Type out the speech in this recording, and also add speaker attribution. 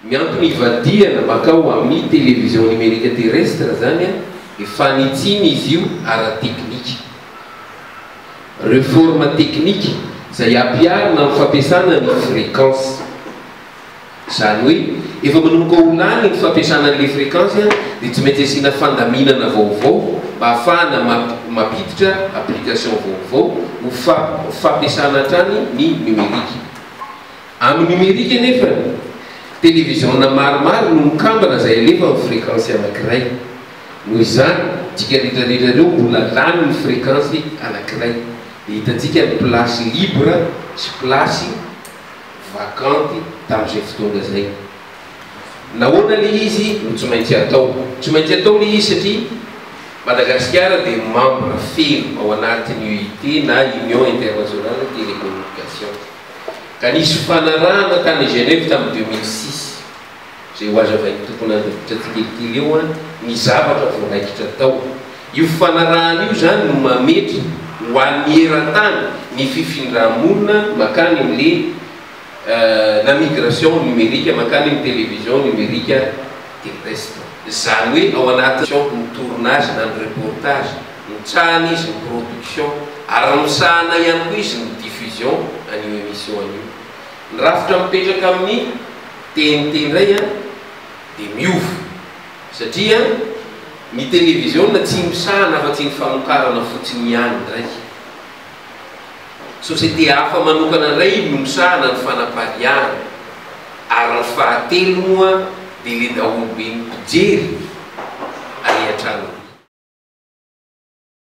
Speaker 1: Ny antony ivadihana makao ami television numerique terrestre zany a e fanitsina izy io ara teknika. Reforme teknika zay ampiharina am fampiasana ny frequence. Zany hoe efa manomboka ho lany ny fampiasana anle frequence a de tsy maintsy asiana fandaminana vaovao mba hafahana mampiditra application vaovao ho fa fampiasana hatrany ny numerique. Amin'ny nomerika anefa, televiziona maromaro no mikambana izay alefa amin'ny frekansy anankiray. Noho izany, dika retraretra ireo mbola lany ny frekansy anankiray. Dia hitantsika ny place libre sy place vacante tamin'izay fotoana izay. Nahoana ilay izy no tsy maintsy atao? Tsy maintsy atao ilay izy satria Madagasikara dia membre feno ao anatin'ny UIT na Union Internationale Télécommunication. ka nisy fifanarahana tany Genève tamin'ny deux mille six, izay hohazavain'ny tompon'andraikitra tsikelikely eo an, ny zavatra voaraikitra tao. Io fifanarahana io izany no mametra ho an'ny eran-tany ny fifindrà-monina mankany amin'le la migration numérique, mankany amin'ny télévision numérique terrestre. Izany hoe ao anatin'ny tournage na ny reportage. Mitsahana izy ny production ary misahana ihany koa izy ny diffusion an'io emission an'io. Ny rafitra mipetraka amin'ny TNT indray an dia miova satria ny televisiona tsy misahana afa-tsy ny famokarana fotsiny ihany indray. Société hafa manokana indray no misahana ny fanapariahana ary ny fahatelo moa dia le daholobe ny mpijery ary an-tranony.